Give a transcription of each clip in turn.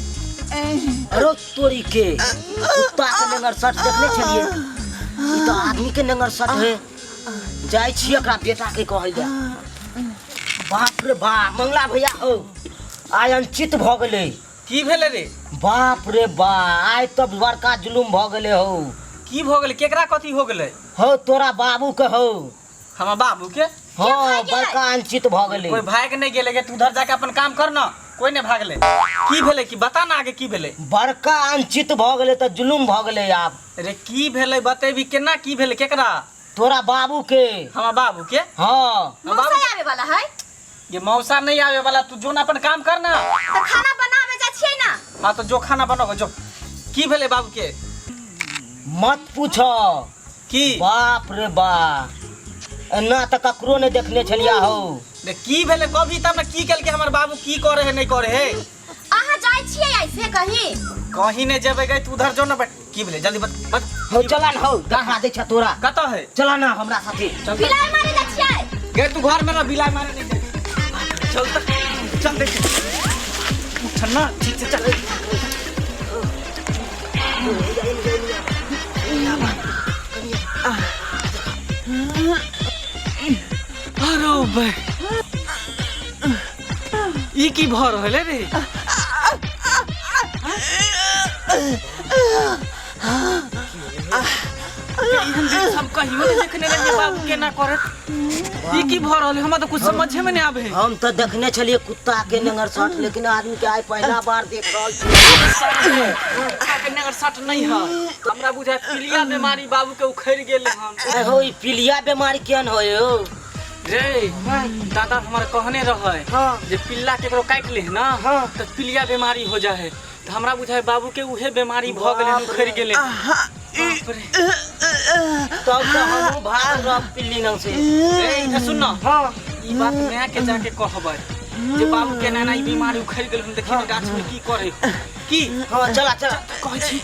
अरे तोरी के कुत्ता के नंगर सट देखने छलिए ई तो आदमी के नंगर सट है जाय छी एकरा बेटा के कहै ले बाप रे बाप मंगला भैया हो आइ अनचित भऽ गेलै की भेलै रे बाप रे बा आइ तऽ बड़का जुलुम भऽ गेलै हौ की भऽ गेलै केकरा कथी हो गेलै हौ तोरा बाबूके हौ हमर बाबूके हँ भागि गेलै? बड़का अनचित भऽ गेलै कोइ भागि नहि गेलै गे तू उधर जाके अपन काम कर न कोइ नहि भागलै की भेलै कि बता ना आगे की भेलै बड़का अनचित भऽ गेलै तऽ जुलुम भऽ गेलै आब रे की भेलै बतेबी केना की भेलै केकरा तोरा बाबूके हमर बाबूके हँ हमर बाबू मौसा आवे वाला है ये मौसा नहीं आवे वाला तू जोन अपन काम कर ना तो खाना बनावे जा छिए ना हाँ तो जो खाना बनाओ जो की भेले बाबू के मत पूछो की बाप रे बा एना तऽ ककरो नहि देखने छलिया हो रे की भेले कभी तब ना की कल के हमार बाबू की करे है नहीं करे है अहाँ जाइ छियै आई से कहीं कहीं नहीं जेबे गई तू उधर जो ना बैठ की बोले जल्दी बत बत हौ चला न हौ देखा दै छ तोरा कत है चला न हमरा साथे चल त। बिलाय मारे जाइ छियै गई तू घर में ना बिलाई मारे नहीं जाए चल तक चल देख उठ ना ठीक से चल अरे बे ई की भऽ रहल है रे एहन दृश्य हम कहियो नहीं देखने रहिए बाबू के ना करत ई की भऽ रहल है हमरा तो कुछ समझे में नहीं आवे है हम तो देखने छलिए कुत्ता के नंगर सट लेकिन आदमी के आइ पहला बार देख रहल छी कुत्ता के नगर सट नहीं है हमरा बुझा पीलिया बीमारी बाबू के उखड़ गेल हम ए हो ई पीलिया बीमारी केहन हो यो रे दादा हमार कहने रहे हाँ। जे पिल्ला केकरो काट ले ना हाँ। तो पिलिया बीमारी हो जा है तो हमरा बुझाए बाबू के उहे बीमारी भ गेले बाप उखड़ रे। गेले आहा, ई, बाप रे। अ, अ, अ, तब तो हमहू भाग रह पिल्ली नाम से ए इधर सुन ना हाँ। ई बात मैं के जाके कहबै जे बाबू के नाना ई बीमारी उखड़ गेल हम देखी गाछ में की करे हो। की हाँ, चला चला कहै छी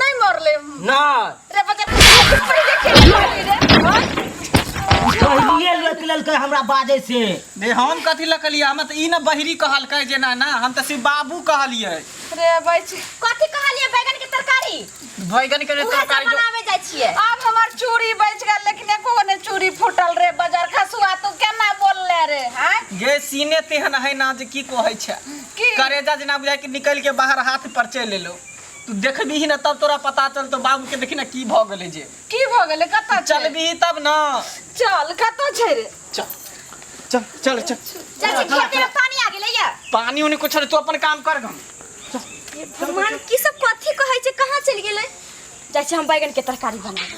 নাই মরলে না রে বাচ্চা हमरा बाजे से नहीं हम कथी लकलिए हम तो ई न बहरी कहलकै जे ना ना हम तो सिर्फ बाबू कहलिए रे बैच कथी कहलिए बैगन के तरकारी बैगन के तरकारी बनावे जाय छिए अब हमर चूड़ी बच गेल लेकिन एको ने चूड़ी फूटल रे बाजार खसुआ तू केना बोलले रे हैं गे सीने तेहन है ना जे की कहै छै करेजा जना बुझाय के निकल के बाहर हाथ पर चल लेलो तू देखबीही ना तब तोरा पता चलतो बाबू के देखी ना की भ गेले जे की भ गेलै कतऽ चल चलबीही तब ना चल कतऽ छै रे चल चल चल चल चाची खेते में पानी आ गेलै या पानी उनी कुछ तू अपन काम कर गम भगवान की सब कथी कहै छै कहाँ चलि गेलै जाइ छी हम बैगन के तरकारी बनाबै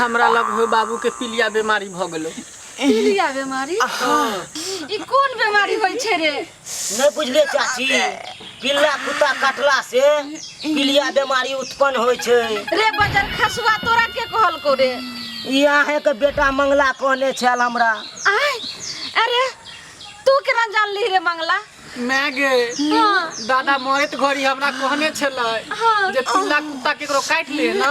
हमरा लग हो बाबू के पीलिया बीमारी भ गेलो पीलिया बीमारी ई कोन बीमारी होय छै रे नहि बुझले चाची पिल्ला कुत्ता काटला से पीलिया बीमारी उत्पन्न होइ छै रे बजर खसुआ तोरा के कहलको रे ई अहें के बेटा मंगला कहने छल हमरा आय अरे तू केना जानली रे मंगला माय गे हाँ दादा मरैत घड़ी हमरा कहने छलै हाँ। जे पिल्ला कुत्ता केकरो काटि ले ना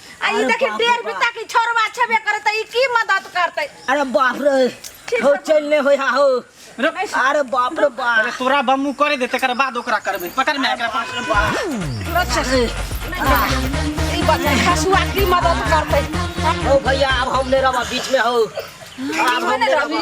आ ई अरे देखी बाप रे डेढ़ बाप। बिता की छोरवा छबे करे त ई की मदद करते अरे बाप रे हो चल ने होय हा हो रुक अरे बाप रे बाप पहले तोरा बम्मू करे दे तकर बाद ओकरा करबे पकड़ में एकरा पास रे बाप अरे, ई बच्चा खसुआ की मदद करते हो भैया अब हम ने रवा बीच में हो अब हम ने रवा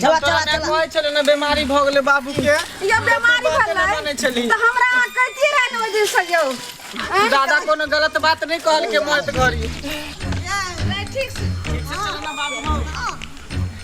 चला चला चला कहै छलै ने बीमारी भऽ गेलै बाबू के यो बेमारी बाते नहि बनै भेलै छली। तऽ हमरा अहाँ कहितियै रहै ने ओहि दिन से यौ आँय? दादा कोनो गलत बात नहि कहलकै मौत घरी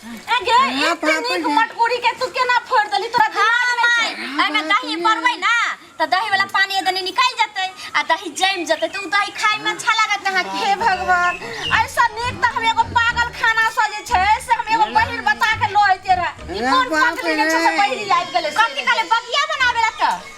ए गे हाँ, एक पापा दिन के जी। मटकुरी के तू केना फोड़ देली तोरा हां माय एमे दही पड़बै ना त दही वाला पानी एदने निकल जतै आ दही जम जतै त उ दही खाय में अच्छा लागत ना हे भगवान ऐसा नीक त हम एगो पागल खाना सजे छै से हम एगो बहिर बता के लो आइते रहा ई ए कोन बाप पटली के रे। छे से बहिरी आबि गेले कथि काले बगिया बनावेला त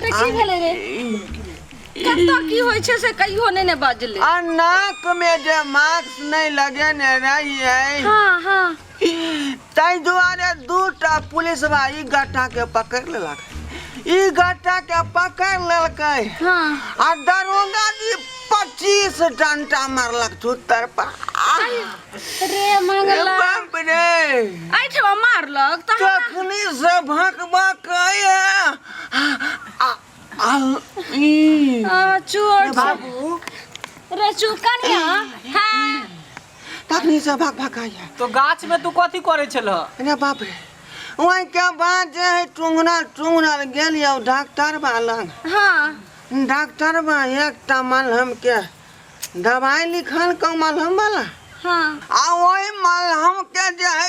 तऽ की भेलै रे कतऽ की होइ छै से कहियो नहि ने बजलै आ नाक में जे मास्क नहि लगेने रहियै हाँ हाँ ताहि दुआरे दू टा पुलिस बा ई गट्टा के पकड़ लेलक ई गट्टा के पकड़ लेलकै हाँ। आ दरोगा जी पच्चीस डंटा मारलक छुत्तर पर आह, रे ए मंगला बाप रे एहिठाम मारलक तऽ हमरा कखनी से भकबक चोर बाबू रे चुकनिया हां तखनी से भाग भाग आया तो गाछ में तू कथी करे छल अरे बाप रे वही के बाद जे है टुंगना टुंगना गेल यौ डॉक्टर बा लग हां डॉक्टर बा एक टा मलहम के दवाई लिखल कौ मलहम वाला हां आ वही मलहम के जे है